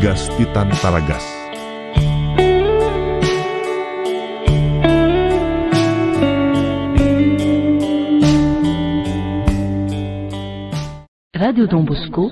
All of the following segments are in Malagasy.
Gasy tia tany Taragasy. Radio Don Bosco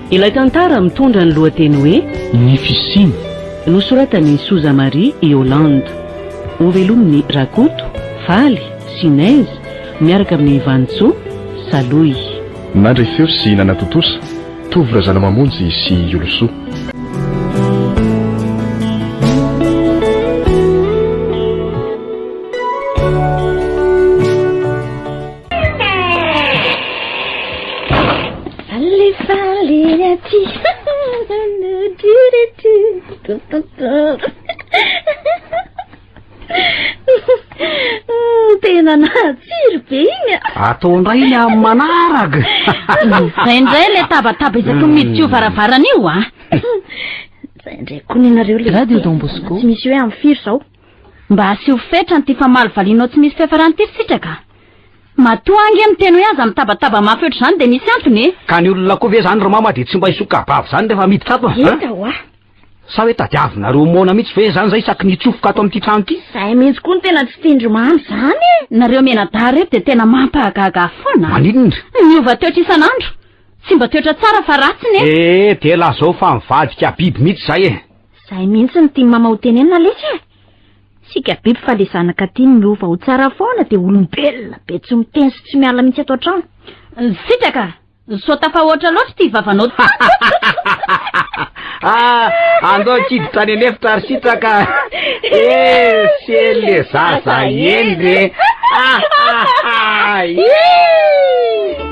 Ilay tantara mitondra ny lohateny hoe. Ny fisiany. Nosoratan'i Sousa Marie i Hollande. Hovelomin'i Rakoto, Faly, sy Inez miaraka amin'i Vanintsoa, Salohy. Nandre feo sy nanatontosa, Tovo Razanamamonjy sy Iolosoa. Tena nahatsiry be iny Ataondray ny amin'ny manarag Zay indray le tabataba isaky ny miditra io varavarana io a Zay indray koa nenareo le Radio Don Bosco Tsy misy hoe amin'ny firy zao Mba asio fetra an'ity famaly valianao tsy misy fiafarany ity sitraka a! Matoa ange miteny hoe aza mitabataba mafy ohatr'izany dia misy antony e! Ka ny olona koa ve izany ry mama dia tsy mba hisokabavy izany rehefa miditra ato an? Hita hoa! Sa hoe tadiavinareo moana mihitsy ve izany izay isaky ny hitsofoka ato amin'ity trano ity? Izay mihitsy koa no tena tsy tian-dry mama izany e! Nareo mianadahy reto dia tena mampahagaga foana a! Maninona indry? Miova toetra isan'andro! Tsy mba toetra tsara fa ratsiny e! Ee, dia lazao fa mivadika biby mihitsy izay e! Zay mihitsy no tian'i mama ho tenenina lesy e! Sika biby fa le zanaka tiany miova ho tsara foana de olombelona be tsy miteny sy tsy miala mihitsy ato an-trano. Sitraka! Sao tafahoatra loatra ity vavanao ty! Ah, andao tsy hiditra any an'efitra ry Sitraka! Eh, sely le zaza hendry e! Ah, ah, ah, ih!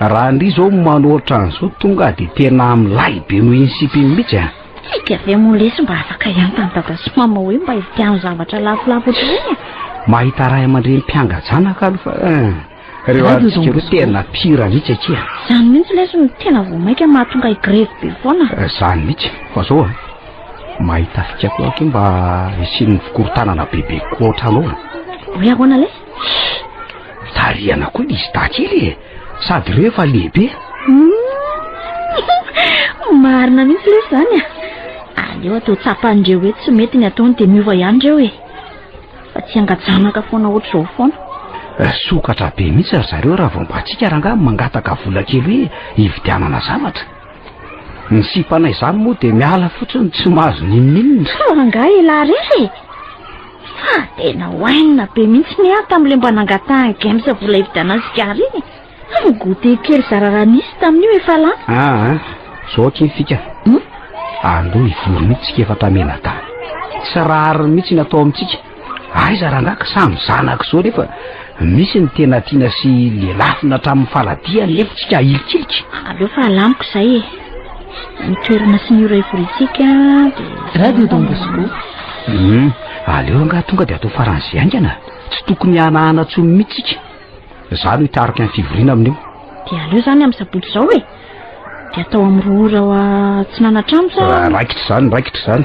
Raha ndry zao manoatra an'zao tonga de tena milay be noho iny sipa iny mihitsy a. Tsika ve moa lesy mba afaka hiantan'i dada sy mama hoe mba hividiano zavatra lafolafo otr'ireny a? Mahita ray aman-dreny mpianga-janaka aloha fa eh, reo arintsika reo tena pire mihitsy akia. Zany mihitsy lesy no tena vao maika mahatonga higrevy be foana. Eh, zany mihitsy fa zao a, mahita fika koa akia mba hisian'ny fikorontanana bebe koa ohatranao a. Hoe ahoana lesy? Tarihana koa izy takely e Sady reo efa lehibe Marina mihitsy le zany a Aleo atao tsapan'ireo hoe tsy mety ny ataony dia miova ihany ireo e Fa tsy angajanaka foana ohatr'izao foana eh, Sokatra be mihitsy ry zareo raha vao mba tsika rangaha mangataka vola kely hoe hividianana zavatra Ny sipanay izany moa dia miala fotsiny tsy mahazo ninoninona Fa rangaha elah rehetra e Fa tena oainina be mihitsy ny ahy tamin'ilay mba nangatahan'i Games vola hividianana sigara iny e. Fa ny goûter kely zara raha nisy tamin'io efa lany. Ah ah, zao akia fika. Hmm? Aleo hivory mihitsy tsika efa tamela-dahy. Tsy rariny mihitsy ny atao amintsika. Aiza rangaha ka samy zanaka izao nefa misy ny tena tiana sy lelafina hatramin'ny faladiany nefa tsika ahilikilika. Aleo fa alamiko izay e. ny toerana sy ny ora hivoriantsika dia radio Don Bosco hum aleo angaha tonga dia atao faran'izay haingana tsy tokony hanahana tsony mihitsika za no hitarika ny fivoriana amin'io dia aleo zany amin'ny sabotsy izao e dia atao amin'ny roa ora tsy nanatrano sa raikitra izany raikitra izany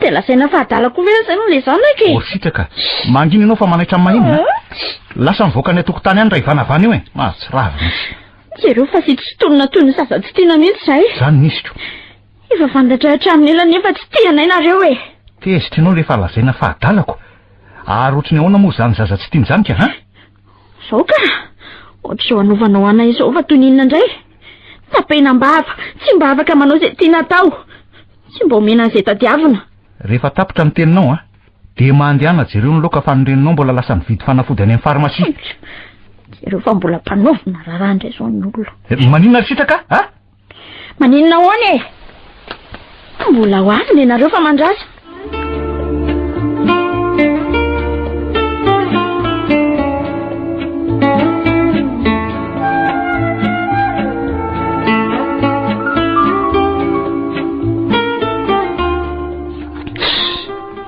Dia lazaina fa adala koa ve aza aloha ilay zanaka e? Orisitraka, mangina ianao fa manaitra amin'ny mahinina a! Lasa mivoaka any an-tokotany any raha ivanavana eo e! Mahatsiravina mihitsy. Jereo fa vitsy tsy tonona toy ny zaza tsy tiana mihitsy izahay. Izany ny isiko. Efa fantatra hatramin'ny ela nefa tsy tia anay nareo e! Tezitra ianao rehefa lazaina fa adalako. Ary ohatry ny ahoana moa izany zaza tsy tiany izany ka a? Zao ka! Ohatr'izao anovanao anay izao fa toy ny inona indray? Tapena am-bava, tsy mba afaka manao izay tiana atao. Tsy mba omena an'izay tadiavina. Rehefa tapitra ny teninao an, dia mandehana jereo ny laoka fa ny reninao mbola lasa nividy fanafody any amin'ny pharmacie. Jereo fa mbola mpanaovina raharaha indray izao ny olona. Maninona ry sitraka a? Maninona ahoana e? Mbola ho avy nenareo fa mandrasa.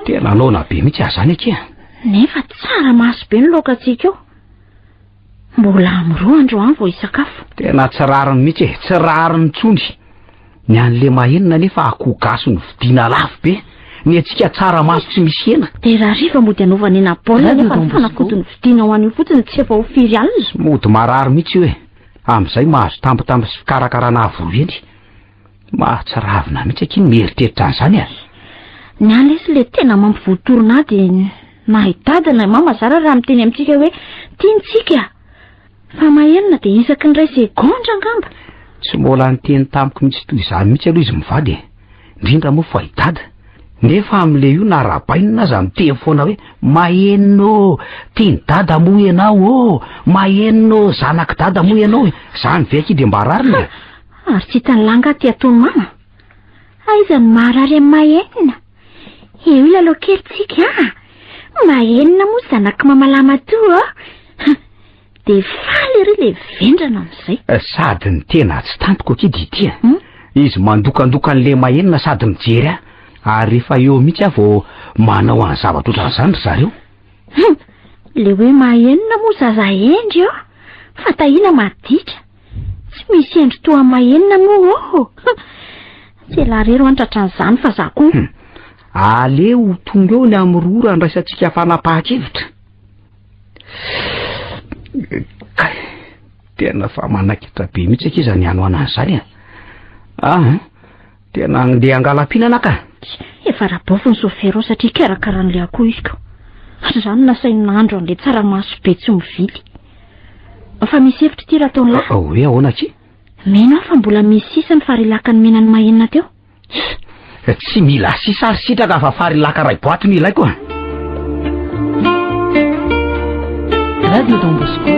Tena laona be mihitsy aza zany akia. Nefa tsara maso be ny laoka antsika eo. Mbola am roa andro an vao hisakafo. Tena tsy rariny mihitsy e, tsy rariny intsony. Ny an'i Lema enina anefa akoho gasy no vidiana lafo be. Ny antsika tsara maso tsy misy hena. Dia rahariva mody anaovana hena baolina nefa ny fanafody no vidiana ho an'io fotsiny tsy efa ho firy alina. Mody marary mihitsy io e. Amin'izay mahazo tampotampo sy fikarakarana avo reny. Mahatsiravina mihitsy akia ny mieritreritra an'izany a. Ny ahy lesy le tena mampivoatorina ahy dia na i dada na i mama zara raha miteny amintsika hoe tiantsika fa maherina dia isaky ny ray segondra angamba. Tsy mbola niteny tamiko mihitsy toy izany mihitsy aloha izy mivady e. Indrindra moa fa i dada. Nefa amin'le io na rabainina aza miteny foana hoe mahenina ô, tian'i dada moa ianao ô, mahenina ô, zanak'i dada moa ianao e. Izany ve akia dia mba rariny e. Ary tsy hitan'i lahy angaha ity atony mama? Aiza no maharary an'i Mahenina? Eo ilalao kely tsika a! Mahenina moa zanak'i mama Lamatoa a! Dia faly ery ilay vendrana amin'izay. Sady ny tena atsy tampoka akia Didi a! Hmm? Izy mandokandoka an'ilay Mahenina sady mijery ahy ary rehefa eo mihitsy aho vao manao an'ny zavatra ohatran'izany ry zareo. Hmm! Ilay hoe Mahenina moa zaza hendry eo fa tahina maditra. Tsy misy endry toa mahenina moa oho. Tsiela rery ho antratra an'izany fa za koa. Hmm. Aleo ho tonga eo ny amin'ny roa randraisantsika fanapahan-kevitra. Kay, tena fa manaikitra be mihitsy akia izany hanoanana izany e. Ah, Tena andeha hangalam-pihinana ka. Efa rabaofy ny sofera ao satria karakara an'ilay akoho izy ka. Ary izany nasainy nahandro an'ilay tsaramaso be tsy mividy. Fa misy hevitra ity raha taonlahy. Ah, hoe ahoana aky? Mino aho fa mbola misy sisa ny farilaka nomenan'i Mahenina teo. Tsy mila sisa ary sitraka fa farilaka iray boaty no ilaiko. Radio Don Bosco.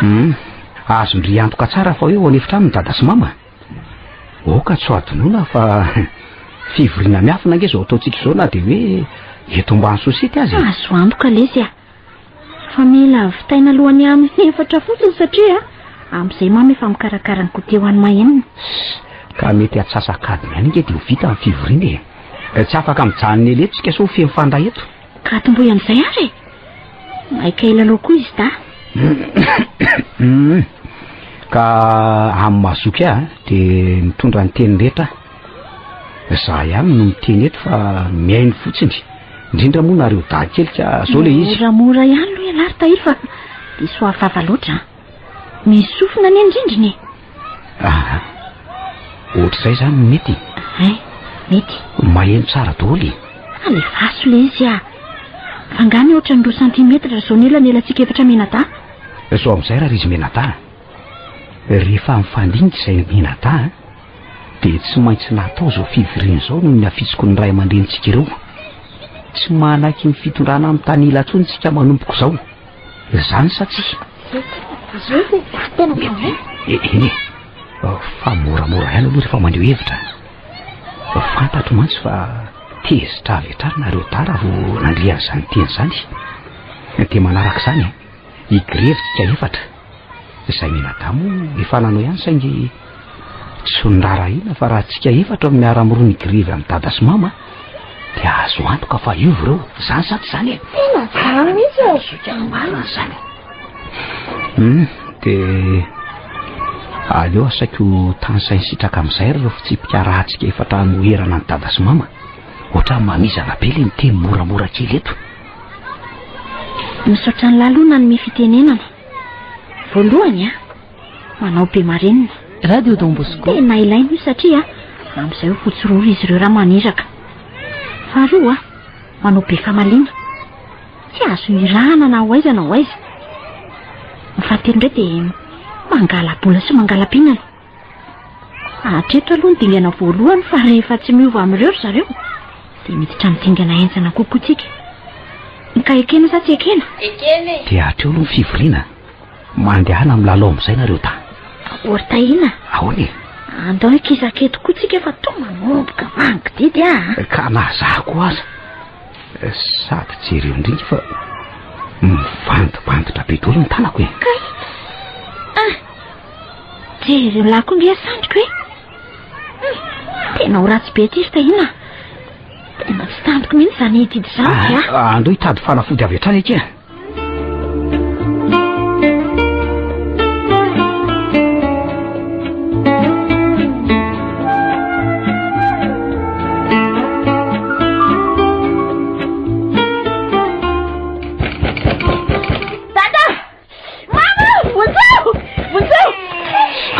Hmm. Azondry antoka tsara fa eo anefitra aminy dada sy mama Aoka tsy ho adinoina fa fivoriana miafina ange izao ataontsika izao na dia hoe eto ambany sosity aza. Azo antoka lesy a. Fa mila vitaina alohan'ny amin'ny efatra fotsiny satria amin'izay mama efa mikarakara ny goûter ho an'i Mahenina. Ka mety antsasakadiny ihany ange dia ho vita ny fivoriana e. Tsy afaka mijanona ela eto isika sao feno fanda eto. Ka tomboy amin'izay ary e. Maika hilalao koa izy da. Ka amin'ny mahazoky ahy eh, dia mitondra ny teny rehetra. Za ihany no miteny eto fa mihaino fotsiny. Indrindra moa nareo dahy kely ka zao le izy. Moramora ihany lo ialahy ry tahiry fa diso afava loatra. Misy sofina any an-drindrina e. Ah, ohatr'izay izany no mety. Ay, mety. Maheno tsara daholo e. Alefaso le izy ah. Fangany ohatra ny roa santimetatra izao ny elanelantsika efatra menada. Sao amin'izay raha izy menada. Rehefa mifandinika izay menada dia tsy maintsy natao izao fivoriana izao noho ny hafitsiko ny ray aman-drenintsika ireo. Tsy manaiky ny fitondrana amin'ny tanila intsony isika manompoko izao. Izany sa tsia? Zut e, tena mahay. Eny e, fa moramora ihany aloha rehefa mandeho hevitra. Fantatro mantsy fa tezitra avy hatrany nareo tara vao nandre an'izany teny izany. Dia manaraka izany, higrevy tsika efatra. Izay mianadahy moa efa nanao ihany saingy tsy noraharahiana fa raha antsika efatra no miara-miroa ny grevy an'i dada sy mama dia azo antoka fa hiova ireo. Izany sa tsy izany e? Tena izany mihitsy e! Zoky ny marina izany. Hmm, dia aleo asaiko tany sainy sitraka amin'izay ireo fitsipika rahantsika efatra hanoherana an'i dada sy mama. Ohatran'ny mamizana be ilay miteny moramora kely eto. Misaotra an'lah aloha nanome fitenenana. Voalohany a, manao be marenina. Radio Don Bosco. Tena ilaina io satria amin'izay ho fotsiroro izy ireo raha maniraka. Faharoa, manao be famaliana. Tsy azo hirahana na ho aiza na ho aiza. Ny fahatelo indray dia mangala-bola sy mangala-pinana. Hatreto aloha ny dingana voalohany fa rehefa tsy miova amin'ireo ry zareo dia miditra amin'ny dingana henjana kokoa tsika. Ka ekena sa tsy ekena? Ekena e! Dia hatreo aloha ny fivoriana. Mandehana milalao amin'izay nareo ta. Or Tahina. Ahoana e? Andao hikisaka eto koa tsika fa toa manomboka mangididy a. Ah. Ka na za koa aza. Eh, sady jereo indrindra fa mivandibandotra be dolo ny tanako e. Kay. Ah. Jery lahy koa nge sandriko e. Hmm, tena ho ratsy be ity Stahina. Tena tsy tantiko mihitsy izany hitidi izany ah, ah. Andoha hitady fanafody avy hatrany akia.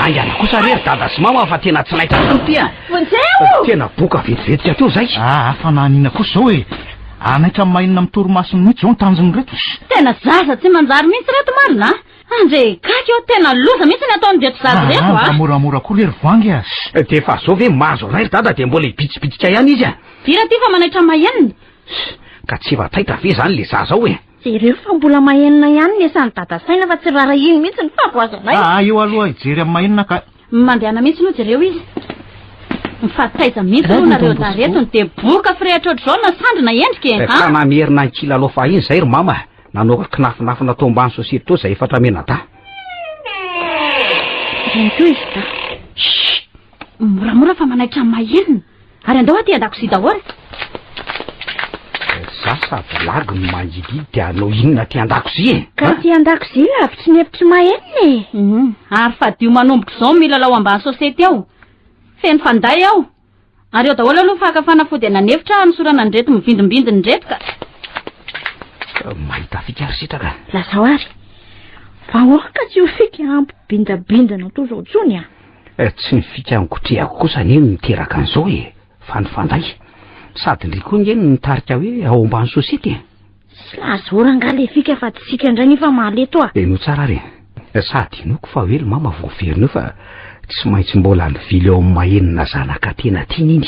Aingana kosa re ry dada sy mama fa tena tsy naitra tokoa ity a Vonjeo! Tena boka vetivetika teo izay. Ah, ah, fa nanina kosa izao e. Hanaitra amin'ny maha-inona amin'ny torimasony mihitsy izao ny tanjon'ireto. Tena zaza tsy manjary mihitsy ireto marina a. Andre gaga eo, tena loza mihitsy ny ataon'ireto zaza Ah, ireto ah, mba a. moramora koa re ry voangy a. Eh, Dia efa izao ve mahazo ray ry dada dia mbola hibitsibitika ihany izy a Dira ity fa manaitra mahenina. Ka tsy efa taitra ve izany le zaza ao e? Jereo fa mbola mahenina ihany ny esan'i dada saina fa tsy rarahiny mihitsy ny fahavoazanay. Ah, ah, eo aloha hijery amin'ny mahenina ka. Mandehana mihitsy aloha jereo izy. Mifaritaiza mihitsy aloha nareo zaretony dia boka firehitra ohatr'izao na sandry na endrika e. Efa namerina ny kilalao fahiny izay ry mama nanao ka kinafinafina tao ambany sosety tao izay efatra menadahy. Izay koa izy dahy. Shh! Moramora fa manaitra amin'ny mahenina. Ary andao aty an-dakozia daholo. Za sa blague no mangididy dia hanao inona aty an-dakozia e? Ka aty an-dakozia lavitry ny hevitry Mahenina e. Mhm. Ary fadio manomboka izao ny milalao ambany sosety ao. Feno fanday ao. Ary eo daholo aloha ny faka fanafody anan'efitra hanosorana an'ireto mivindimbindina ireto ka. Ka mahita fika ary sitraka. Lazao ary. Vahoaka tsy ho fika hampibindabindana toa izao intsony a. Tsy ny fikangotrehako kosa anie no niteraka an'izao e, fa ny fanday. Sady ndry koa nge no nitarika hoe ao ambany sosety e. Tsy lazora angaha le fika fa tsika ndray nefa mahaleo toa. Henoy tsara ary e. Sady inoako fa hoe ry mama vao very neo fa tsy maintsy mbola nivily ao amin'ny mahenina zanaka tena tiany iny.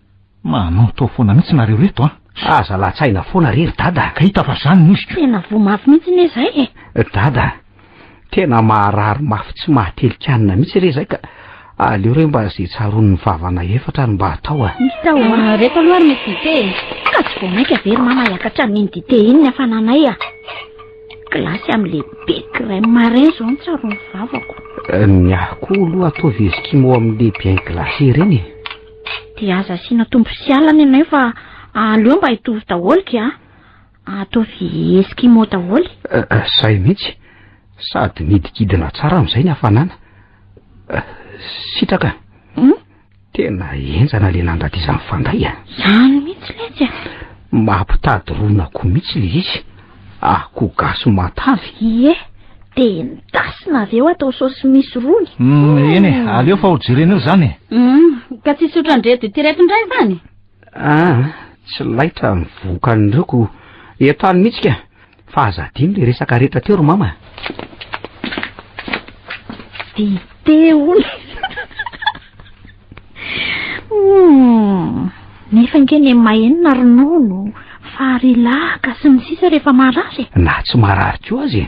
Manonto foana mihitsy nareo reto an! Aza latsahina foana re ry dada! Ka hita fa zany nosy ko! Tena voa mafy mihitsy ne zay e! Dada, tena maharary mafy tsy mahatelikanina mihitsy re zay ka! Aleo re mba ze tsaroan'ny vavana efatra ary mba atao a! Misy tao a! Ah, reto aloha ary misy dite e! Ka tsy vao maika ve ry mama hiakatra amin'iny dite iny ny hafananay a! Glace amin'le be crème marin zao no tsaroan'ny vavako! Ny ahy koa aloha ataovy eskimo amin'le bien glacé ireny e! Dia aza asiana tombo sy alina ianay fa aleo mba hitovy daholo ki a! Ataovy eskimo daholo e! Izay mihitsy! Sady midikidina tsara amin'izay ny hafanana. Sitraka! Tena henjana le nandra ty zany fanday a! Zany mihitsy letsy a! Mampitady ron'akoho mihitsy le izy! Ah, ko gasy matavy. Ie, de endasina avy eo atao saosy misy rony. Mm, eny e, aleo fa ho jerena eo zany e. Mm, ka tsy sotra ndreto ity reto ndray zany? Ah, tsy laitra ny vokan'ireo ko eto any mihitsy ka. Fa aza adino le resaka rehetra teo ry mama. Dite hono. Humm, nefa ange ny mahenina ronono, fary laka sy ny sisa rehefa marary e. Na tsy marary koa aza e.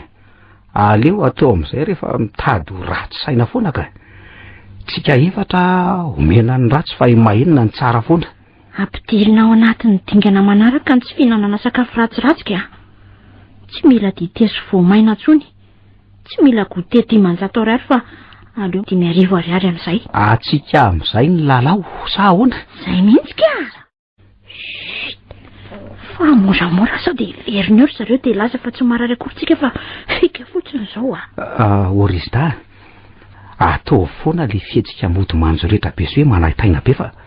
Aleo atao amin'izay rehefa mitady ho ratsy saina foana ka. Tsika efatra omena ny ratsy fa i mahenina ny tsara foana. Ampidirina ao anatin'ny dingana manaraka ny tsy fihinanana sakafo ratsiratsy ka. Tsy mila dite sy voamaina intsony. Tsy mila goûter dimanjato ariary fa aleo dimy arivo ariary amin'izay. Atsika amin'izay ny lalao sa ahoana? Izay mihitsy ka! Chut! Fa moramora sao dia hiverina eo ry zareo dia hilaza fa tsy marary akory tsika fa fika fotsiny izao a! Ah, Orizda a! Ataovy foana ilay fihetsika mody manjo rehetra be sy hoe manaintaina be fa.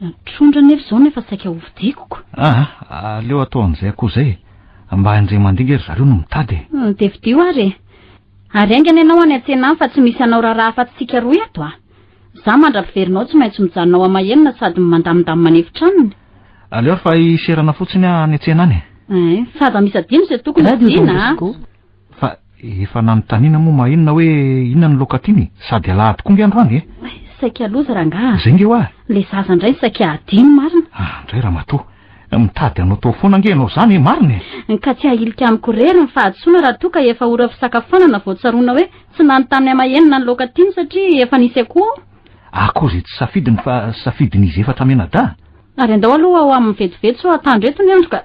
Mitrondra anefa izao nefa saika ho fidikoko. Ah, aleo atao an'izay akoho izay e. Mba hain-dry aman-dinga ry zareo no mitady e. Hmm, dia fidio ary e. Ary haingana ianao any an-tsena any fa tsy misy anao raharaha afa-tsy tsika roa eto ah. Za mandra-piverinao tsy maintsy mijanona ao ama-henona sady mandamindamy manefitranony. Aleo ary fa hiserana fotsiny aho any an-tsena any e. Eh, fa aza misadino izay tokony ho adino ah. Fa efa nanontaniana moa mahinona hoe inona ny loka tiany e? Sady alahady koa nge androany e! Saika loza rangahy a! Zay nge hoa! Le zaza ndray saika hadino marina! Ah, ndray ramatoa! Mitady hanao tao foana nge ianao zany e! Marina e! Ka tsy hahilika amiko rery ny fahadisoana raha toa ka efa ora fisakafoanana vao tsaroana hoe tsy nanontaniana mahinona ny loka tiany satria efa nisy akoho ao! Akoho izay tsy safidiny fa safidin'izy efatra mianadahy! Ary andao aloha ho amin'ny vetivety sao hatandreto ny andro ka!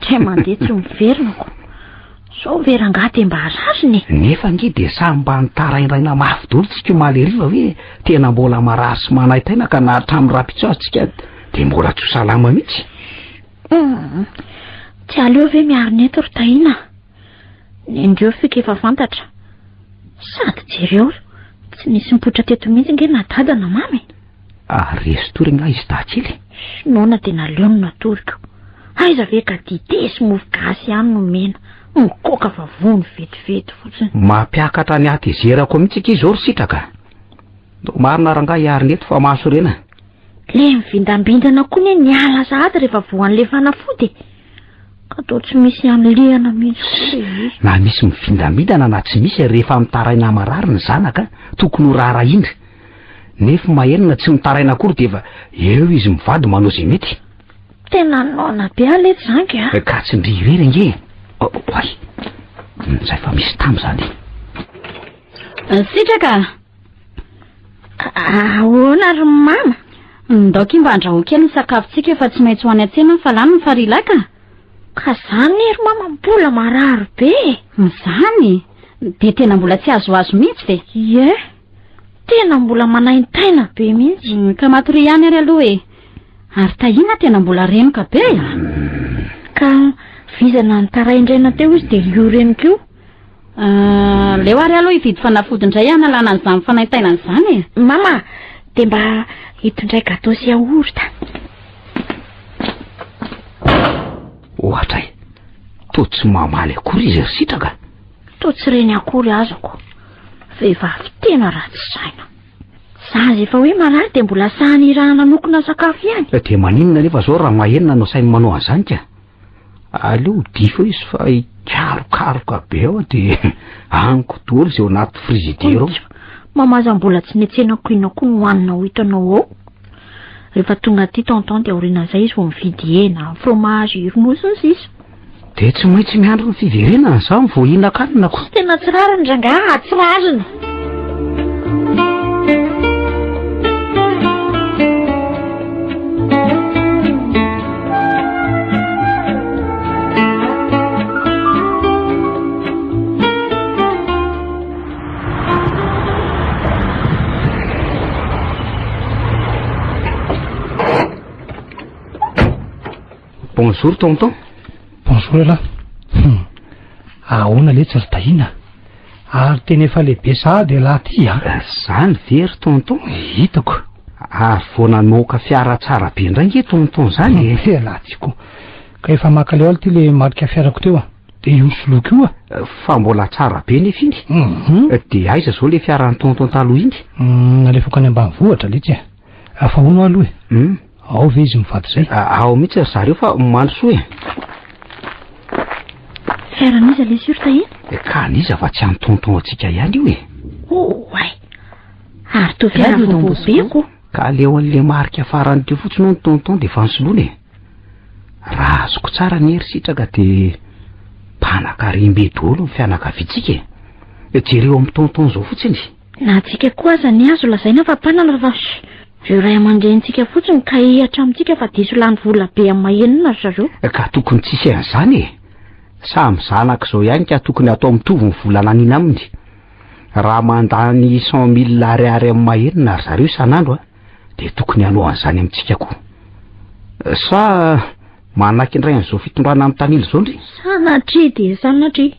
Tsia mandeha tsy miverina ko. Sao ve rangaha dia mba rariny e? Nefa nge dia samy mba nitaraindraina mafy dolo tsika omaly hariva hoe tena mbola marary sy manaitaina ka na hatramin'ny rapitsaho tsika dia mbola tsy ho salama mihitsy. Hmm. Tsy aleo ve miarina eto ry Tahiana? Nendreo fika efa fantatra. Sady jereo, tsy nisy mipoitra teto mihitsy nge na dada na mamy. Ah, resy tory ngah izy dahakely? Noana dia naleo no natoriko. Aiza ve ka dite sy mofo gasy ihany no mena. Mikoka fa vony vetivety fotsiny. Mampiakatra ny hatezerako mihitsy akia izao ry sitraka. Ndao marina rangahy hiary neto fa mahasorena. Le mivindambindana koa ne ny ala sahady rehefa voan'le fanafody e. Ka toa tsy misy anlehana mihitsy. Na misy mivindambindana na tsy misy rehefa mitaraina marary ny zanaka tokony ho raharahiana. Nefo mahery na tsy mitaraina akory dia efa eo izy mivady manao izay mety. Tena noana be aleha izany a! Ka tsindrio irery ange e! Oay! Izay fa misy tam izany. Sitraka! Ahoana ry mama? Ndao k'y mba andrahoa kely ny sakafontsika efa tsy maintsy ho any an-tsena ny fa lany ny farilay ka! Ka izany ry mama mbola marary be e! Izany? Dia tena mbola tsy azoazo mihitsy ve? Ie! Tena mbola manaintaina be mihitsy. Mm, ka matoria ihany ary aloha e. Ary tahina tena mbola renoka be a. Ah. Mm. Ka vizana nitaraindraina teo izy dia io reniko io. Ah, leo ary aloha hividy fanafody indray hanalana an'izany fanaintainana izany e. Mama, dia mba hitondray gato sy yaourt. Ohatra e, toa tsy mamaly akory izy ry sitraka. Toa tsy reny akory azako. Vehivavy tena ratsy saina. Za izay efa hoe marary dia mbola sahy nirahana nokona sakafo ihany. Eh, dia maninona anefa izao raha mahenina no sahy manao an'izany ka? Aleo ho difo izy fa hikarokaroka be ao dia amiko daholo izay ao anaty frizidera ao. Mamaza mbola tsy netsena koina koa no hanina ho hitanao ao. Rehefa tonga aty tonton dia aorianan'izay izy vao mividy hena, fromage, ronono sy ny sisa. Dia tsy maintsy miandry ny fiverenana za vao hihinan-kanina ko. Tena tsy rariny rangaha, ah, tsy rariny. Bonjour tonton. Bonjour elah. Hum. Ahoana le tsy ry tahiana? Ary tena efa lehibe sahady elah ty a. Ah. Zany ve ry tonton? Hitako. Ary vao namoaka fiara tsara be indray nge tonton zany e. Eh. Elah ty ko. Ka efa makaleo alo ty le marika fiarako teo a. De io soloko io a. Eh, fa mbola tsara be nefa iny. Mhm. Eh, de aiza zao le fiaran'ny tonton taloha iny? Hmm, nalefako any ambanivohitra le tsy a. Afa hono aloha e. Hmm. Ao ve izy mivady zay? Ao mihitsy ry zareo fa omaly soa e. Fiaran'iza le sur tahina? Eh, ka an'iza fa tsy antonton antsika ihany io e. Oh, ay. Ary toa fiara vombobeko. Ka aleo an'le marika farany teo fotsiny ny tonton dia efa nisoloana e. Raha azoko tsara ny hery sitraka dia mpanakarembe dolo ny fianakaviantsika e. Jereo amin'ny tonton zao fotsiny. Na antsika koa aza anie azo lazaina fa mpanana fa shh! Ireo ray aman-drenintsika fotsiny ka hihatra amintsika fa diso lany vola be amin'ny mahenina ry zareo. Ka tokony tsy hisy an'izany e! Samy zanaka izao ihany ka tokony hatao mitovy ny vola naniana aminy. Raha mandany cent mille ariary amin'ny mahenina ry zareo isan'andro a! dia tokony hanao an'izany amintsika koa. Sa manaiky indray an'izao fitondrana mitanila izao ndry? Sanatria dia sanatria!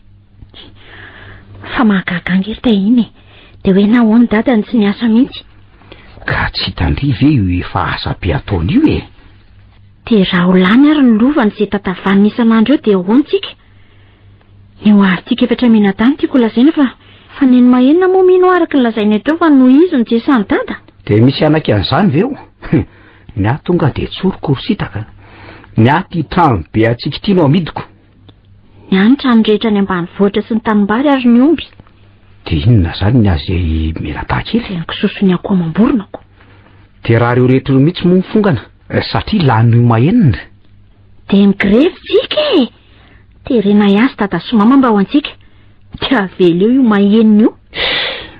Fa mahagaga ange ry Tahiana e! Dia hoe nahoany dada no tsy niasa mihitsy? Ka tsy hitan-dry ve io efa asa be ataony io e? Dia raha ho lany ary ny lovany izay tatavaniny isan'andro eo dia ahoana tsika? Ny ho avy tsika efatra mianadahy no tiako holazaina fa. Fa neny Mahenina moa mino aho araka ny lazainao teo fa nohizo ny jesan'i dada? Dia misy hanaika an'izany ve eo? Ny ahy tonga dia tsoriko ry sitaka. Ny ahy ity trano be atsikitiana ao amidiko. Ny any trano rehetra any ambanivohitra sy ny tanimbary ary ny omby. Dia inona izany ny azy menataha kely? Dia ny kisosony akoho amam-boronako. Dia raha ireo rehetra ireo mihitsy moa ny fongana? Eh, satria lany oma enina. Dia migrevy tsika e! Terena ihany sy dada sy mama mba ho antsika. Tsy avela eo io mahenina io.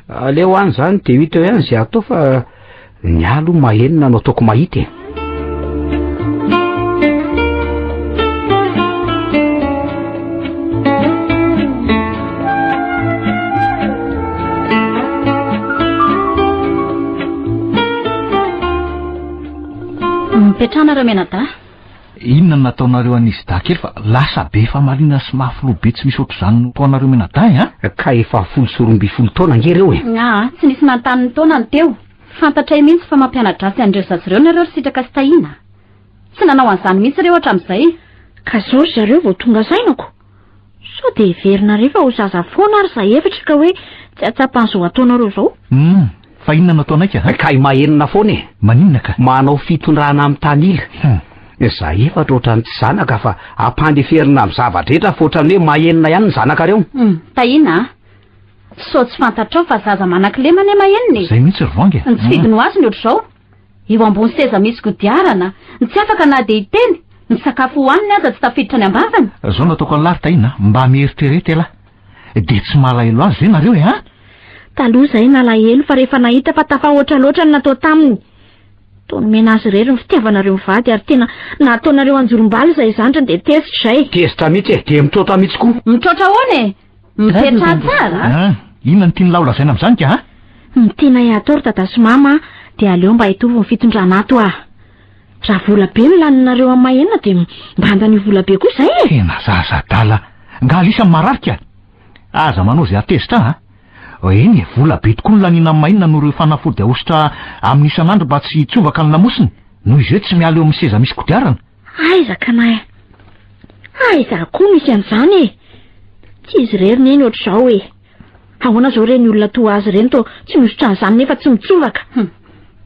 Aleo any zany de hita eo ihany zay atao fa ny alo mahenina no ataoko mahita e. Mipetrana Ramenadahy. Inona no nataonareo an'izy dahy kely fa lasa be famaliana sy maha filoha be tsy misy ohatr'izany no toanareo mianadahy an! Ka efa folo sy roambifolo taona ange ireo e! Nga a! Tsy nisy nanontany ny taona ny teo. Fantatray mihitsy fa mampianadratsy an'ireo zaza ireo nareo ry Sitraka sy Tahiana a! Tsy nanao an'izany mihitsy ireo hatramin'izay. Ka zao ry zareo vao tonga saina ko! Sao dia heverinareo fa ho zaza foana ary izahay efatra ka hoe tsy hahatsapa an'izao ataonareo izao? Humm! Fa inona no ataonay ka? Kay mahenona foana e! Maninona ka? Manao fitondrana amin'ny tanila. Humm! Izahay efatra ohatran'ny tsy zanaka fa ampandeferina amin'ny zava-drehetra fa ohatran'ny hoe mahenona ihany ny zanakareo. Humm! Tahiana a! Sao tsy fantatrao fa zaza manan-kilema anie mahenona e! Izay mihitsy ry Vangy a! Ny tsy fidiny ho azy ny ohatr'izao! Eo ambony seza misy kodiarana, ny tsy afaka na dia hiteny, ny sakafo hohaniny aza tsy tafiditra any am-bavany. Zao no ataoko an'lah ry Tahiana a, mba mieritrereta elah. Dia tsy mahalahelo azy ve nareo e an? Taloha izahay nalahelo fa rehefa nahita fa tafahoatra loatra ny natao taminy. Toa nomena azy irery ny fitiavanareo mivady ary tena nataonareo anjorom-bala izay zandriny dia tezitra izay. Tezitra mihitsy e, dia mitroatra mihitsy koa. Mitroatra ahoana e? Mipetraha tsara a! An! Inona no tian'ilahy ho lazaina amin'izany ka a? Ny tianay hatao ry Dada sy Mama dia aleo mba hitovy ny fitondrana ato a! Raha vola be no laninareo amin'ny maha-enina dia mba andanio vola be koa izay e! Tena zaza adala! Nga lisy amin'ny marary ka! Aza manao izay hatezitra ahy a! Eny e, vola be tokoa no laniana amin'ny maha-enina noho ireo fanafody ahosotra aminy isan'andro mba tsy hitsovaka ny lamosiny, noho izy hoe tsy miala eo amin'ny seza misy kodiarana. Aiza ka na aiza koa misy an'izany e! Tsy izy irery neny ohatr'izao e! Ahoana izao ireny olona toa azy ireny toa tsy mihosotra an'izany nefa tsy mitsovaka? Hum.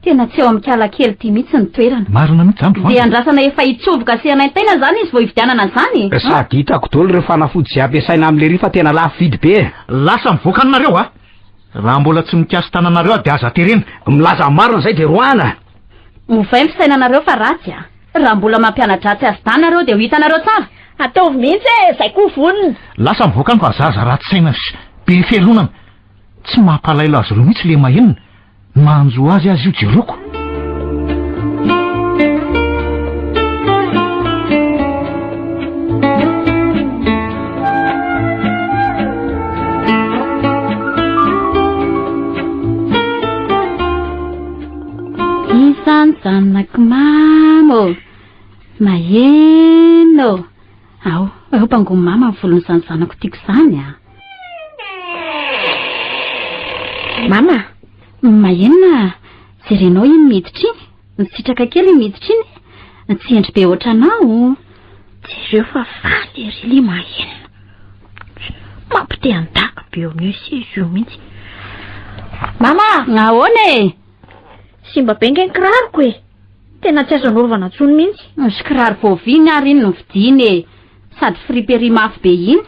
Tena tsy ao amin'Ikala kely ity mihitsy ny toerana. Marina mihitsy izany ry Vanja. Dia andrasana efa hitsoboka sy hanaintaina izany izy vao hividianana an'izany? Sady hitako daholo ireo fanafody izay ampiasaina amin'lery fa tena lafo vidy be e! Lasa mivoaka anareo a! Raha mbola tsy mikasi-tananareo aho dia aza terena! Milaza ny marina izay dia roahina! Ovay ny fisainanareo fa ratsy a! Raha mbola mampianadratsy azy dahy nareo dia ho hitanareo tsara! Ataovy mihitsy e! Izay koa vonona! Lasa mivoaka any fa zaza ratsy saina sy be fialonana! Tsy mampalaelo azy ireo mihitsy lema enina! Ny mahanjo azy aza io jeroko! Isan zanak'i mama ô, maheno ô. Ao, ao bangon'i mama ny volon'izany zanako tiako izany a. Mama, maheno a, jerenao iny miditra iny, misitraka kely iny miditra iny, tsy hendry be ohatranao. Jereo fa faly ery le mahenina. Mampite andako be eo mieux si io mihitsy. Mama, ahoana e? Simba be nge ny kiraroko e. Tena tsy azo anaovana tsony mihitsy. Misy kiraro voaviany ary iny no vidiany e. Sady friperie mafy be iny.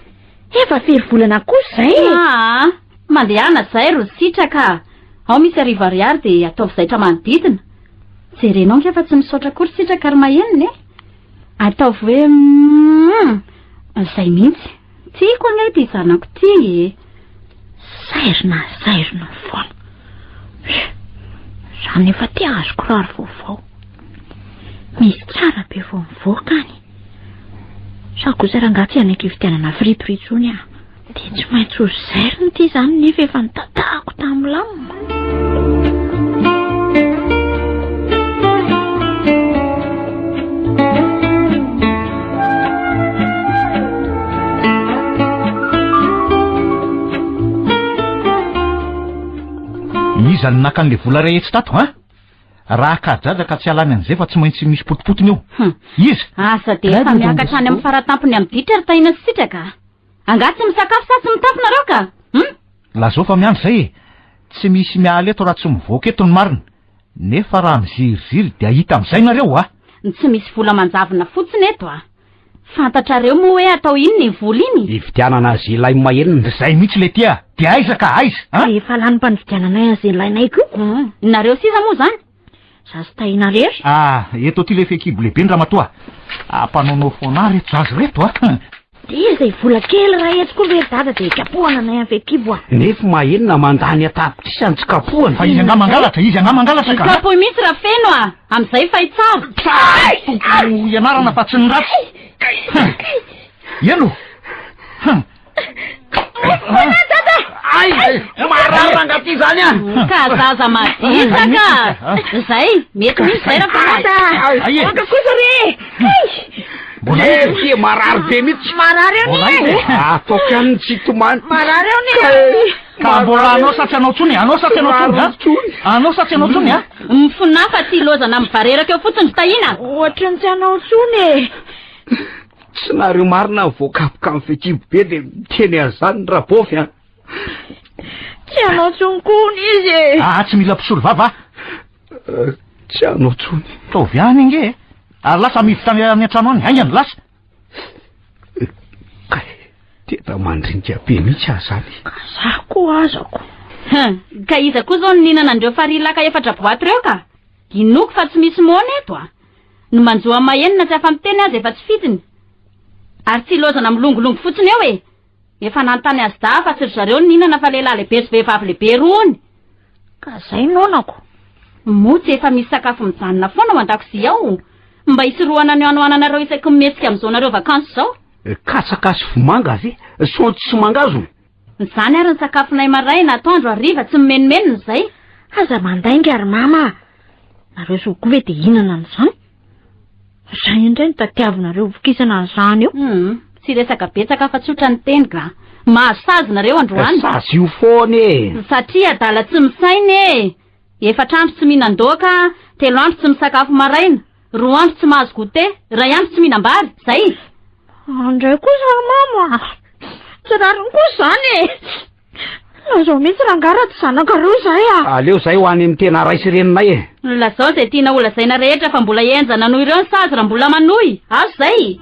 Efa firy volana kosa zay e? Aa, mandehana zay ro sitraka. Ao misy arivo ariary dia ataovy zaitra manodidina. Jerenao nge fa tsy misaotra akory sitraka ry mahenina e. Ataovy hoe umm zay mihitsy. Tiako anie ity zanako ity e. Zairina zairina foana. Za nefa te ahazo kiraro vaovao. Misy tsara be vao mivoaka any. Sa kosa rangaha tsy hanaiky fividianana fripery intsony aho. Dia tsy maintsy ho zairina ity izany nefa efa nitatahako tamin'ny lamina. Iza no naka an'ilay vola rehetra tato ha? Raha kajaja ka tsy halany an'izay fa tsy maintsy misy potipotiny eo. Hum. Iza? Asa dia Raha efa dia miakatra any amin'ny fara-tampony amin'ny ditra ry Tahiana sy Sitraka. Angaha tsy misakafo sa tsy mitafy nareo ka? Hum? Lazao fa miandry izay e! Tsy misy miala eto raha tsy mivoaka eto ny marina. Nefa raha miziriziry dia hita amin'izay nareo hoa! Ny tsy misy vola manjavona fotsiny eto a! Fantatrareo moa hoe atao inona iny vola iny? Hividianana azilahy maheno ndry zay mihitsy le tia! Dia aiza ka? Aiza? An? Dia efa lany mpanvidianana azy ilainay koa! Hum! Nareo sisa moa izany? Za sy Tahiana rery? Ah, eto aty ilay fehikibo lehiben-dramatoa. Ampanaonao foana ary eto zazy reto a. Ah. Dia izay vola kely raha etsy koa ve ry dada dia kapohana anay amin'ny fehikibo a. Nefa mahenina mandany an-tapitrisy any tsy kapohana. Fa izy angah mangalatra, izy angah mangalatra ka. Kapohy mihitsy raha feno a. Amin'izay fay tsara. Tsara tokony ianarana fa tsy ny ratsy. Eno. Ay, marary rangaty izany an! Ka zaza madisaka! Zay, mety misy zay raha fanata! Anga kosa re! Mbola izy ty marary be mihitsy! Marary eo ny! Ataoko ihany ny tsy tomany! Marary eo ny! Ka mbola anao sa tsy anao tsony? Anao sa tsy anao tsony? ha? Anao sa tsy anao tsony? ha? Mifonafa ty lozana mivareraka eo fotsiny tahina! Ohatran'ny tsy anao tsony e! Tsy nareo marina ny voakapoka amin'ny fekibo be dia miteny azany ny rabofy an. Tsy hanao tsony kony izy e. Ah, tsy mila mpisolo vava. Eh, tsy hanao tsony. Taovy any inge. Eh. Ary lasa mivitra any amin'ny antrano any. Aingany lasa. Eh, kay, teta mandrinka be mihitsy azany. Za koa azako. Ka iza koa zao ninana andreo farilaka efatra boaty reo ka? Inoako fa tsy misy moana eto a! Ny manjo amin'ny maheno na tsy afa-miteny aza efa tsy fidiny. Ary tsy ilaozana milongolongo fotsiny eo e! Efa nanontany azy dahy fa tsy ry zareo nihinana fa lehilahy lehibe sy vehivavy lehibe roa ony. Ka izay noanako. Moa tsy efa misy sakafo mijanona foana ao an-dakozia ao mba hisorohana ny hanoananareo isaky ny mihetsika amin'izao nareo vakansy izao? Katsaka sy vomanga ve? Saonjo sy mangahazo? Izany ary ny sakafonay maraina, atoandro, hariva, tsy mimenomenona izay. Aza mandainga ry mama a! Nareo zokibe ve dia hinana an'izany? Izay indray no tadiavinareo vokisana an'izany eo. Hum, tsy resaka betsaka fa tsotra ny teny ga. Mahazo sazy nareo androany. Sazy io foana e! Satria adala tsy misaina e! Efatra andro tsy mihinan-doaka, telo andro tsy misakafo maraina. Roa andro tsy mahazo goûté, ray andro tsy mihinam-bary, zay. Andray kosa mama a! Tsy rariny kosa izany e! Lazao mihitsy rangahy raha tsy zanakareo izay a! Aleo izay ho any amin'ny tena ray sy reninay e! Lazao izay tianao holazaina rehetra fa mbola henjana noho ireo ny sazy raha mbola manohy, azo izay!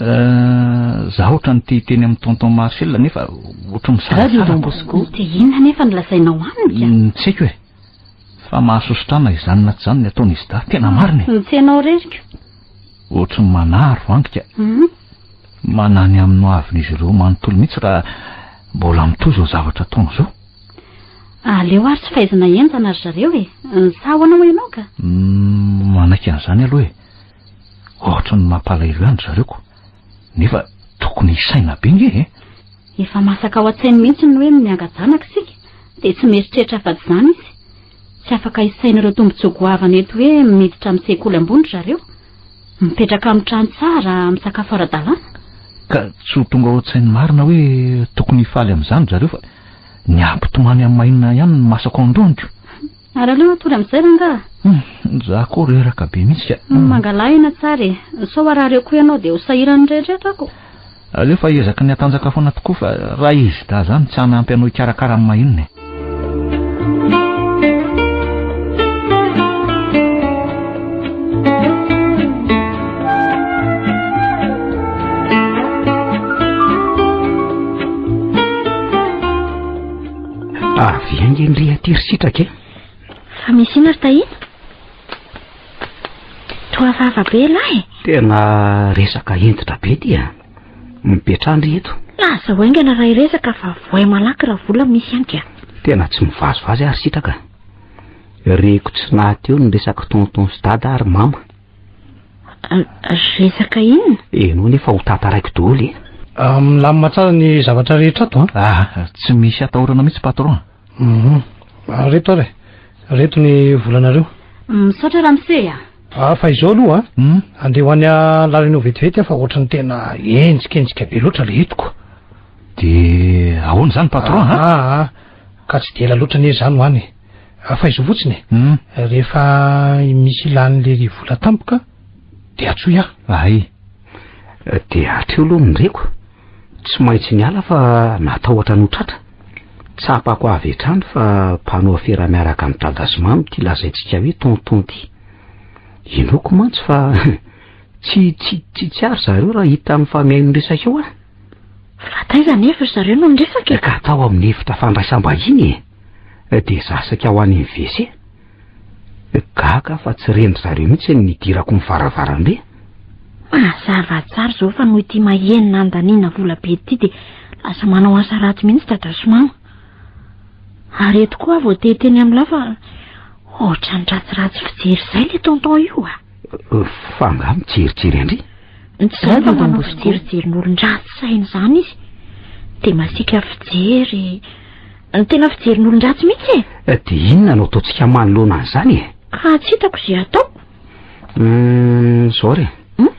Euh, za otrany te hiteny amin'ny tonton Marcel nefa otrany misarasara. Radio Don Bosco. Te inona nefa ny lazainao amiko? Mm, tsy haiko e. Fa mahasosotrana izany na tsy izany ny ataony izy da. Tena marina e. Tsy ianao reriko. Otrany manaro angika. Mm. Manany amin'ny hoavin'izy ireo manontolo mihitsy raha mbola mitohy izao zavatra ataony izao. Aleo ary tsy fahaizana henjana ry zareo e. Ny saho anao ianao ka. Mm, manaiky an'izany aloha e. Ohatran'ny mampalahelo ihany ry zareo ko, nefa tokony hisaina be nge e! Efa masaka ao an-tsainy mihitsy ny hoe mianga-janaka isika, dia tsy mieritreritra afa-tsy izany izy. Tsy afaka hisaina ireo tombontsoa goavana eto hoe miditra amin'ny sekoly ambony ry zareo, mipetraka amin'ny trano tsara, misakafo ara-dalàna. Ka tsy ho tonga ao an-tsainy marina hoe tokony hifaly amin'izany ry zareo fa ny hampitomany amin'ny maha inona ihany ny masako ao an-dohany ko! Ary aleo hatory amin'izay rangaha. Hmm, za koa reraka be mihitsy ka. Hmm, mangalahina tsara e. Sao harary eo koa ianao dia ho sahiran'ny rehetra ako. Aleo fa ezaky ny atanjaka foana tokoa fa raha izy da zany tsy hanampy anao hikarakara amin'ny mahinina e. Avy ange ny ry aty ry sitraka e. Fa misy ina ry tahina? Toa vava be lahy e. Tena resaka hentitra be ty a. Mipetrandry eto. Laza ho aingana raha iresaka fa voay malaky raha vola misy ihany ka. Tena tsy mivazivazy ary sitraka. Reko tsy nahateo ny resaka tonton sy dada ary mama. Resaka inona? Ianao nefa ho tantaraiko daholo e. Ah, milamina tsara ny zavatra rehetra ato an. Ah, tsy misy atahorana mihitsy patron. Mhm. Ah, reto ary. Reto ny volanareo. Misaotra ramose a. Ah, fa izao aloha an. Hmm? Andeha ho any lalany eo vetivety aho fa ohatrany tena enjikenjika be loatra le etiko. Dia ahoana izany patron an? Ah, ah, ah. ka tsy dia ela loatra anie izany ho any. Ah, faizo fotsiny e. Hum. Rehefa misy ilan'le ry vola tampoka, de atsoy aho. Ay. De hatreo aloha ny reko. Tsy maintsy niala fa natahotra ny ho tratra. Tsapako avy hatrany fa mpanao afera miaraka amin'i dada sy mamy ity lazaintsika hoe tonton ity. Inoako mantsy fa tsy tsy tsy tsy ary zareo raha hita mifamihaino resaka eo an. Fa taiza anefa ry zareo no niresaka e? Ka tao amin'ny efitra fandraisam-bahiny e. dia zasaka ho any amin'ny WC. Gaga aho fa tsy ren-dry zareo mihitsy ny nidirako ny varavarambe. Mazava tsara izao fa noho ity mahenina andaniana vola be ity dia lasa manao asa ratsy mihitsy dada sy mama. Ary eto koa aho voateny teny amin'ny lahy fa ohatran'ny ratsiratsy fijery izay ilay tonton io ah. Fa nga mijerijery andry? Zay mba manao fijerinjerin'olon-dratsy saina izany izy. Dia masiaka fijery. Ny tena fijerin'olon-dratsy mihitsy e. Eh, dia inona no ataontsika manoloana an'izany e? Ka tsy hitako izay atao. Hmm, zao re. Hmm?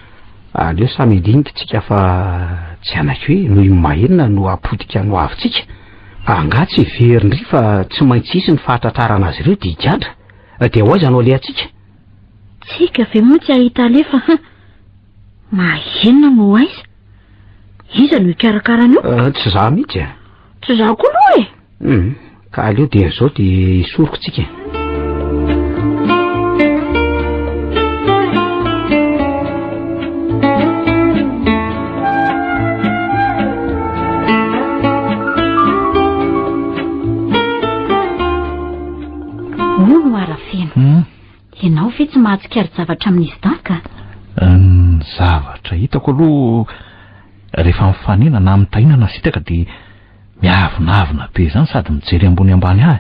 Aleo samy dinika tsika fa tsy hanaiky hoe noho iny mahenina no apotika no avitsika. Anga tsy verindry fa tsy maintsy hisy ny fahatratrarana azy ireo dia higadra. Eh, dia hoaiza no alehantsika? Tsika ve moa tsy hahita alefa ha? Mahenina no aiza? Iza no hikarakara an'io? Ah, tsy za mihitsy e. Tsy za koa aloha e. Hmm, ka aleo dia izao dia isoroko tsika. Moa no arafeno. Hmm. Ianao ve tsy mahatsikari-javatra amin'izy dahy ka? Ny zavatra hitako aloha rehefa mifanena na mitahina na sitaka dia miavonavona be izany sady mijery ambony ambany ahy.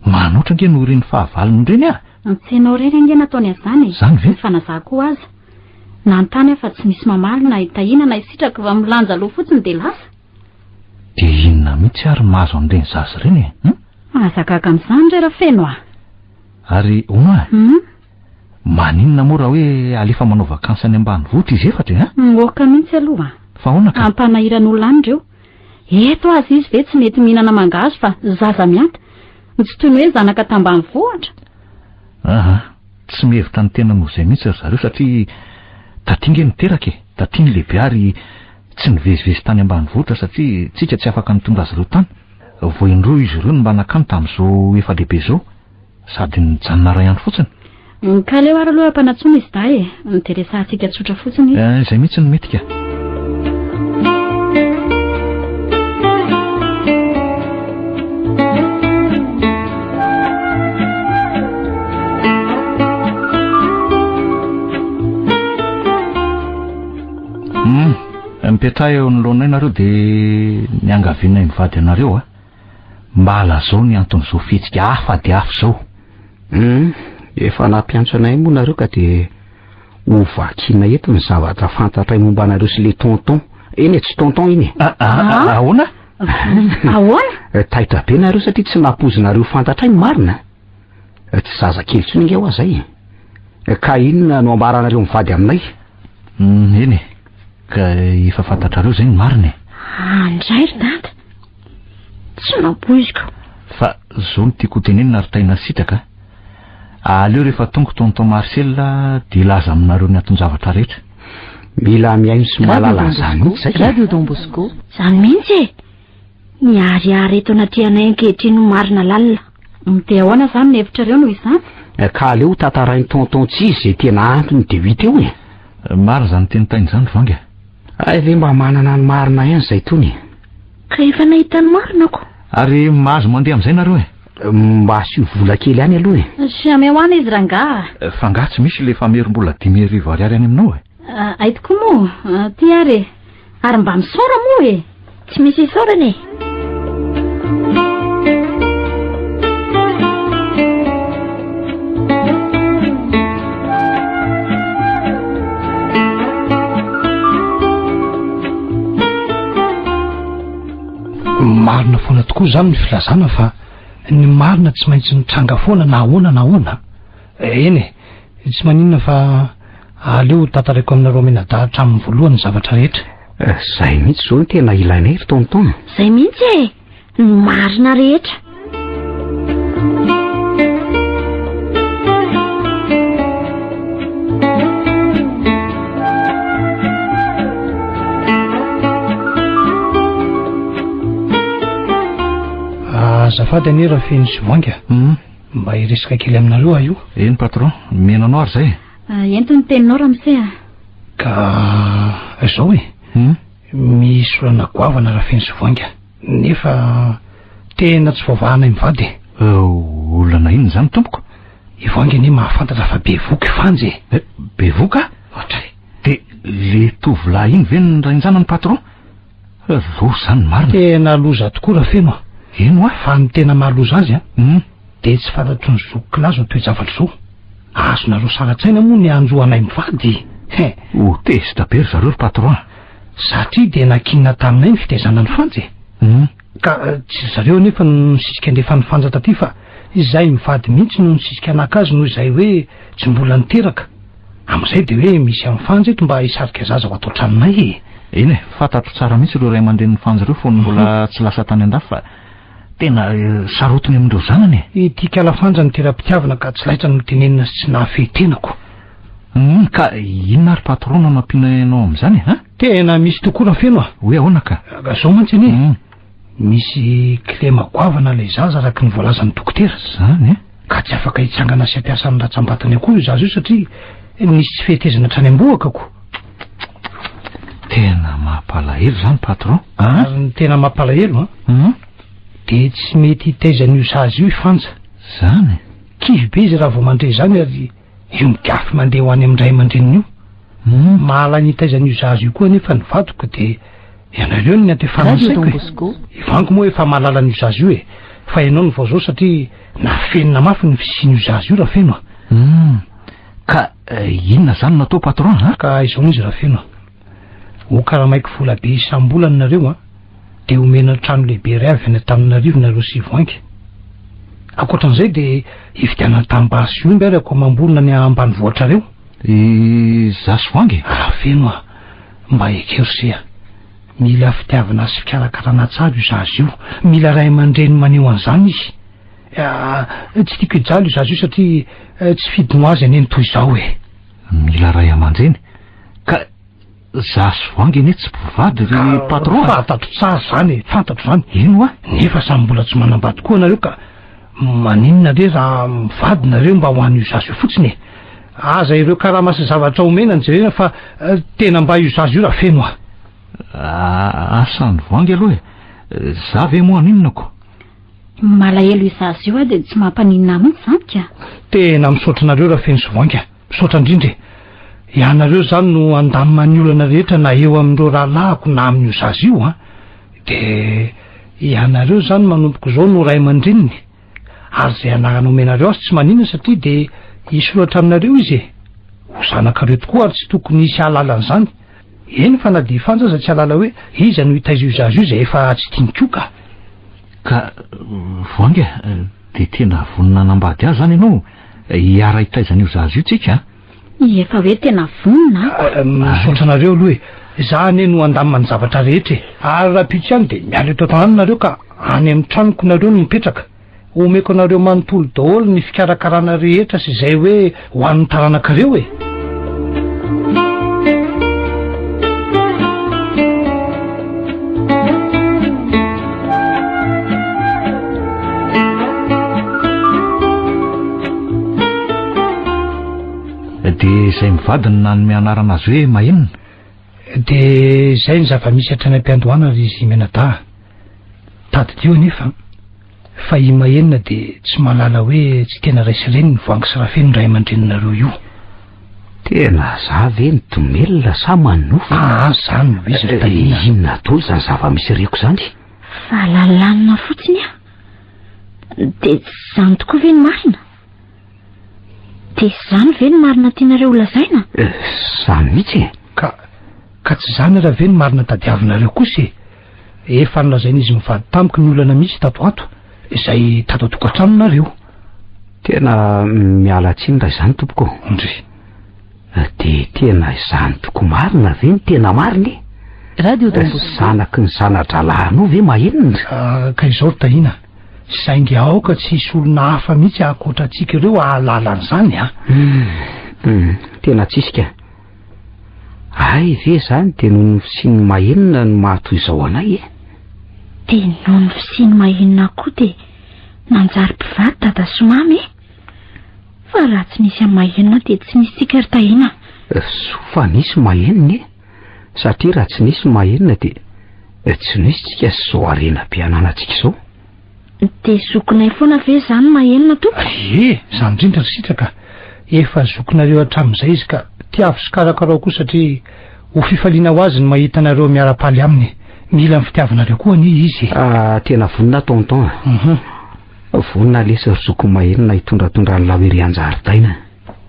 Manoatra ange no irin'ny fahavalony ireny ahy. Antsenao irery ange nataony an'izany e. Izany ve? Ny fanazako aza. Nanontany aho fa tsy misy mamaly na hitahina na hisitraka fa milanja loha fotsiny dia lasa. Dia inona mihitsy ary mahazo an'ireny zaza ireny e? Hum? Mahazagaga amin'izany re Rafeno a! Ary Oma a! Hum? Maninona moa raha hoe alefa manao vakansy any ambanivohitra izy efatra e? Hum, moka mihitsy aloha! Fa ahoana ka? Ampanahiran'olona any ireo. Eto aza izy ve tsy mety mihinana mangahazo fa zaza mihata. Tsy toy ny hoe zanaka tambanivohitra. Aha. Tsy mihevitra ny tenany ho izay mihitsy ry zareo satria taty nge niteraka e, taty ny lehibe ary tsy nivezivezy tany ambanivohitra satria tsika tsy afaka nitondra azy ireo tany, vao indroa izy ireo no mba nankany tamin'izao efa lehibe izao sady nijanona iray andro fotsiny. Mikaleo ary aloha mpanatsoa misy dahy e! Ny dia resahantsika tsotra fotsiny. Eh, izay mihitsy no mety ka. mipetraha eo anoloanay nareo dia niangavianay mivady anareo a ah. Mba lazao ny anton'izao fihetsika hafa dia hafa izao. Humm, efa nampiantso anay moa nareo ka dia ho vakiana eto ny zavatra fantatray momba anareo sy le tonton. Eny e, tsy tonton iny e. Ah, ah, ah, ah ahoana? Ahoana? Taitra be nareo satria tsy nampoizinareo fantatray ny marina. eh, tsy zaza kely tsony nge hoa zay eh, ka inona no ambaranareo mivady aminay mm, eny e ka efa fantatrareo zay ny marina e andray ry dada tsy mampoiziko fa zao no tiako hotenenina ary taina sitraka aleo rehefa tongo tonton marcel dia laza aminareo ny aton-javatra rehetra mila mihaino sy mahalala an'izany mihitsy zay radio don bosco zany mihitsy e Miharihary eto anatrehanay ankehitriny ho marina lalina. Hum dia ahoana izany ny hevitrareo noho izany? Eh, ka aleo ho tantarain'i tonton tsizy izay tena antony dia ho hita eo eh. Eh, marina izany tenitainy izany ry vangy eh. Hay ve mba manana ny marina ihany izay tony eh. Ka efa nahita ny marina ko. Ary mahazo mandeha amin'izay nareo eh. eh mba asio vola kely any aloha eh. Jamais ho ana izy rangaha. Eh, fa nga tsy misy ilay famerim-bola dimy arivo ariary any aminao eh. Hay tokoa moa, ty ary e. Ary mba misaora moa e. Tsy misy isaorana e. marina foana tokoa izany ny filazana fa ny marina tsy maintsy mitranga foana na ahoana na ahoana Eny e, tsy maninona fa aleo ho tantaraiko aminareo menadahy hatramin'ny voalohany ny zavatra rehetra. Eh, zay mihitsy zao no tena ilainay ry tonton. Zay mihitsy e, ny marina rehetra. azafady anie raha feno sy voainga hmm. Mba hiresaka kely aminareo aho io. Eny patron, mino anao ary zay e. Ah, ento ny teninao Ramsey ah. Ka izao e. Hmm? Misy olana goavana raha feno sy voainga. Nefa tena tsy voavahana mivady e. Oh, olana inona izany tompoko? I voainga anie mahafantatra fa bevoka i Fanja e. Eh, bevoka? Ohatray. Dia le tovolahy iny ve ny rainjanany patron? Loza izany marina. Tena loza tokoa Rafeno a. Eny wa. Fa ny tena maha loza azy a, Hum. Dia tsy fantatry ny zoky kila izao toe-javatra izao. Azonareo saratsaina moa ny hanjo anay mivady he. Ho tezitra be ry zareo ry patron a. Satria dia nankinina taminay ny fitaizana an'i Fanja e. Hum. Ka tsy ry zareo anefa no nisisika ny refan'i Fanja taty fa izahay mivady mihitsy no nisisika naka azy noho izay hoe tsy mbola niteraka. Amin'izay dia hoe misy an'i Fanjy eto mba hisarika zaza ho ato an-tranonay e! Eny e, fantatro tsara mihitsy ireo ray aman-drenin'i Fanjy ireo fony mbola tsy lasa tany an-dafy fa tena sarotiny amin'ireo zanany e! Ity kala Fanjy no tera-pitiavana ka tsy laitra ny notenenina sy tsy nahafehy tenako. Humm, ka inona ary patron no nampiana anao amin'izany e? Tena misy tokoa Rafeno a! Hoe ahoana ka? Ka zao mantsy anie e! Misy kilema goavana ilay zaza araka ny voalazan'ny dokotera izany eh? ka tsy afaka hitsangana sy hampiasa ny ratsambatany akory io zaza io satria nisy tsy fetezana hatrany am-bohaka ko tena mampalahelo izany patron ah? ary ny tena mampalahelo a ah? mhm. dia tsy mety hitaizan'io sazy io ifanja izany kivy be izy raha vao mandre izany ary Io mikafy mandeha ho any amin'ny ray aman-dreniny io. Humm mahalay ny hitaiza an'io zaza io koa anefa ny vadiko de ianareo no nianto efa ansaiko e! I vangy moa efa mahalala an'io zaza io e! Fa ianao no vao zao satria nafenina mafy ny fisian'io zaza io Rafeno a! Humm ka inona zany no atao patron a! Ka izao izy Rafeno a! Ho karamaiko vola be isam-bolana nareo an, dia omena trano lehibe iray avy any Antananarivo nareo sy Voinka. Ankoatran'izay dia hividianana tanimbary sy omby ary akoamam-bolana any ambanivohitrareo. Izaho sy Voinka e? Raha feno an, mba ekeo se an. Mila fitiavana sy fikarakarana tsara io zaza io. Mila ray aman-dreny maneho an'izany izy. Ah, tsy tiako hijaly io zaza io satria tsy fidiny ho azy aneny toy izao e. Mila ray aman-dreny? Ka za sy voangy anie tsy mpivady ry patron a! Fantatro tsara izany e, fantatro izany. Eny hoa, nefa samy mbola tsy manambady koa nareo ka maninona re raha mivady nareo mba ho an'io zaza io fotsiny e! Aza ireo karama sy zavatra omena no jerena fa tena mba io zaza io raha feno a! Asa an'i voangy aloha e! Za ve moa haninona ko! Malahelo io zaza io a, dia tsy mampaninona amintsy izany ka! Tena misaotra anareo raha feno sy voangy a! Misaotra indrindra e! Ianareo izany no handamina ny olana rehetra na eo amin'ireo rahalahiko na amin'io zaza io an! De ianareo izany manomboka izao no ray aman-dreniny ary izay anarana omenareo azy tsy manina satria de hisoratra aminareo izy e! Ho zanakareo tokoa ary tsy tokony hisy hahalala an'izany! Eny fa na dia fanja aza tsy hahalala hoe iza no hitaiza io zaza io izay efa tsy tiany koa ka! Ka voainga dia tena vonona hanambady azy izany ianao? Hiara-hitaiza an'io zaza io tsika a! Efa hoe tena vonona a! Misaotra anareo aloha e! Za anie no handamina ny zavatra rehetra e! Ary rahampitso ihany dia miala eto an-tanàna nareo ka any amin'ny tranoko nareo no mipetraka. Omeko anareo manontolo daholo ny fikarakarana rehetra sy izay hoe ho an'ny taranakareo e! Dia izay mivadiny nanome anarana azy hoe mahenina Dia izay ny zava-misy hatrany am-piandohana ry Zimenadaha. Tadidio anefa Fa i Mahenina dia tsy mahalala hoe tsy tena ray sy reniny Voangy sy Rafeno ny ray aman-dreninareo io. Tena za ve ny domelina sa manofa? Ah ah, zany no izy ry Tahiana. Inona dolo zany zava-misy reko zany? Fahalalanina fotsiny ah. Dia tsy zany tokoa ve ny marina? Dia tsy zany ve ny marina tianareo ho lazaina? Eh, zany mihitsy e. Ka, ka tsy zany ary ve ny marina tadiavinareo kosa e. Efa nolazain'izy mivady tamiko ny olana misy tato ho ato, izay tato an-tokantranonareo. Tena miala tsiny raha izany tompoko. Ndry. Dia tena izany tokoa marina ve ny tena marina e? Radio Don Bosco. Zanaky ny zana-drahalahinao ve maheno ndry? Ka izao ry Tahiana, saingy aoka tsy hisy olona hafa mihitsy ankoatra antsika ireo hahalala an'izany an! Tena tsisy ka. Ay ve izany dia noho ny fisian'ny mahenina no mahatoy izao anay e? Dia noho ny fisian'ny mahenina koa dia nanjary mpivady dada sy mamy e? Fa raha tsy nisy an'i mahenina dia tsy nisy tsika ry Tahiana. Eh, soa fa nisy mahenina e? Satria raha tsy nisy mahenina dia eh, tsy nisy tsika sy izao harena be ananantsika izao. Dia zokinay foana ve izany Mahenina tompoko? Ie, izany indrindra ry Sitraka. Efa zokinareo hatramin'izay izy ka tiavo sy karakarao koa satria ho fifaliana ho azy ny mahita anareo miara-paly aminy. Mila ny fitiavanareo koa anie izy e! Ah, tena vonona aho Tonton a! Uhum. Vonona lesy ry zokiko Mahenina hitondratondra an'ilay ho erỳ an-jaridaina.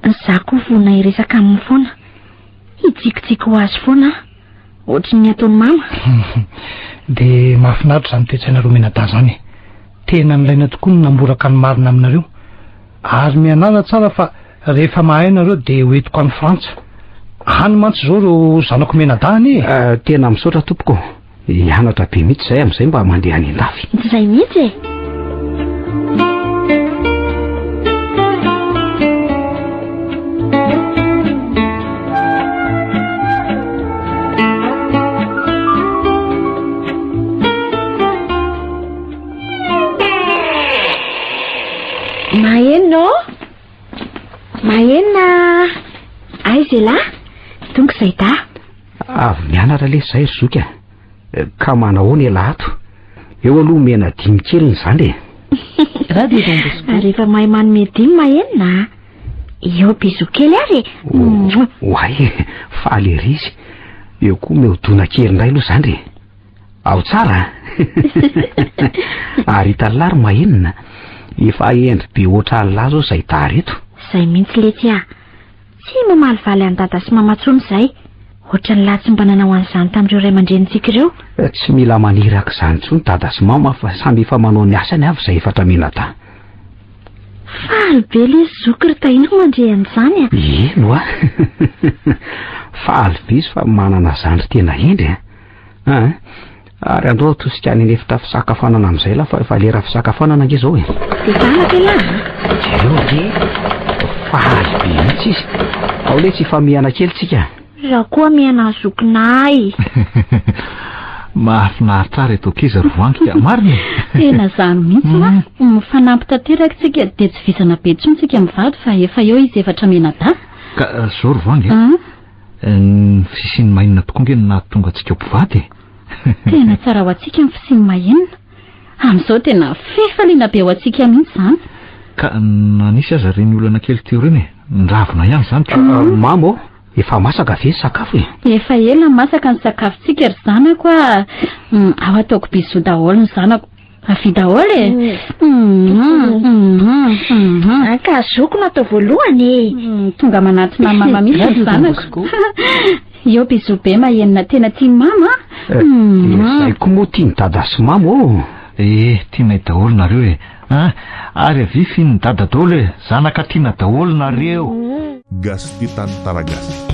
Izaho koa vonona hiresaka aminy foana. Hitsikitsiky ho azy foana aho. Ohatry ny ataon'i mama. Dia mahafinaritra izany toe-tsainareo menadahy izany e. Tena nilaina tokoa ny namboraka ny marina aminareo. Ary mianala tsara fa rehefa mahay nareo dia hoentiko any Frantsa. Any mantsy izao ireo zanako menadahy anie e. Ah, tena misaotra tompoko. Hianatra be mihitsy izay amin'izay mba mandeha any an-dafy. Tsy izay mihitsy e! Maheno ô? Mahena! Aiza ialahy? Tonga izay dahy. Avy mianatra lesy zay ry zoky a. Ka manahoana ialahy ato? Eo aloha omena dimy kely ny zandry e. Radio Don Bosco. Ary efa mahay manome dimy ma enina a. Eo bisous kely ary e. Mouah. Oay e, faly ery izy. Eo koa omeo dona kely indray aloha zandry e. Ao tsara a. Ary italalahy ry ma enina. Efa hendry be ohatr'alina zao zay tara eto. Zay mihitsy letsy a. Tsy mamalivaly an'i Dada sy Mama intsony izahay. Hoatran'ny lahy tsy mba nanao an'izany tamin'ireo ray aman-drenintsika ireo. Tsy mila maniraka izany intsony Dada sy Mama fa samy efa manao ny asany avy izay efatra menatà. Faly be ilay zoky ry Tahiana mandre an'izany a! Eny oa! Faly be izy fa manana zandry tena hendry a! Ah, ary andao atosika any an'efitra fisakafoanana amin'izay la fa efa lera fisakafoanana ange izao e. Zanaka la. Jereo ve? Fahaly be mihitsy izy. Ao le tsy ifamihana kely tsika. Za koa mihana zokinay. Mahafinaritra ary eto kiza rovantika. Marina. Tena zany mihitsy la. Mm. Mifanampy tanteraka tsika dia tsy vizana be tsony tsika mivady fa efa eo izy efatra menada. Ka eh, zao rovangy. Eh? Ah. Ny fisian'ny mahinina tokoa ange no nahatonga antsika ho mpivady e. Tena tsara ho antsika ny fisian'ny mahinina. Amin'izao tena fifaliana be ho antsika mihitsy izany. Ka na nisy aza ireny olana kely teo ireny e, niravona ihany izany ka. Mama ô, efa masaka ve ny sakafo e? Efa ela masaka ny sakafontsika ry zanako a. Ao ataoko bisous daholo ny zanako. Avia daholo e! Ankahazoko no atao voalohany e! Tonga manatona mama mihitsy ny zanako. Eo bisou be mahenina tena tia mama. Izay koa moa tia ny dada sy mama ô. Eh, tianay daholo nareo e! Ah, ary avia finin'ny dada daholo e! Zanaka tiana daholo nareo! Gasy tia tany taragasy.